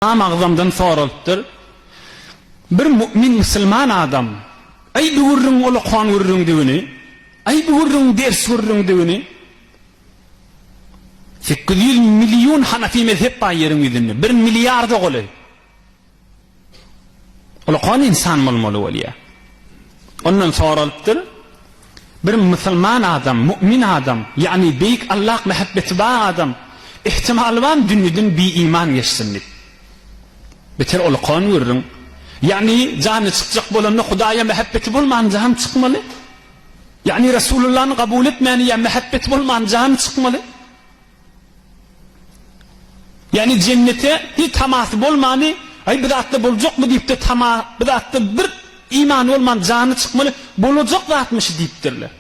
Imam Agzamdan soralypdyr, Bir mu'min musulman adam, Aý bu gürrüň ol okan gürrüňdigini, aý bu gürrüň ders gürrüňdigini, sekiz ýüz million hanafi mezhep bar ýeriň ýüzünde, bir milliarda golaý. Ol okan insan bolmaly bolýar. Ondan soralypdyr, Bir musulman adam, mu'min adam, ýagny beýik Allah mähebbeti bar adam, ihtimalybam dünýeden bi-iman geçsin diýip. Beter ol kon gürrüň. Ýagny jany çykjak bolanda Hudaýa mähebbeti bolman jany çykmaly. Ýagny Resulullany gabul etmäni ýa mähebbeti bolman jany çykmaly. Ýagny jennete hiç tamasy bolmany, Aý bu zatda boljakmy diýip-de tama, bu zatda bir imany bolman jany çykmaly, bolajak zatmy şu diýipdirler.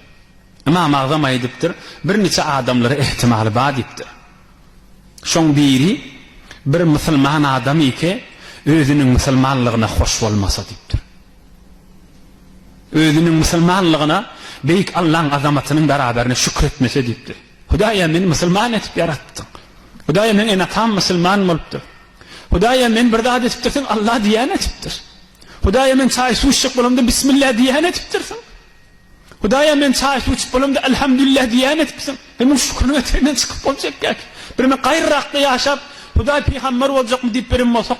Ymam Agzam aýdypdyr, birniçe adamlara ähtimaly bar diýipdir. Şoň biri bir musulman adam ike özüniň musulmanlygyna hoş bolmasa diýipdir. Özüniň musulmanlygyna Beýik Allaň azamatynyň beraberine şükür etmese diýipdir. Hudaýa, meni musulman edip ýaratdyň. Hudaýa, meň ene-atam musulman bolupdyr. Hudaýa, men bir zat edipdirsiň, Allah diýýän edipdir. Hudaýa, men çaý-suw içjek bolamda Bismillah diýýän edipdirsiň. Hudaýa, men çaý-suw içip bolamda Elhamdülillah diýýän edipsiň. Hem munuň şükrini ötegden çykyp boljak ýa-ki? Birem gaýrarakda ýaşap, Hudaý pygamber boljakmy diýip birem bolsak,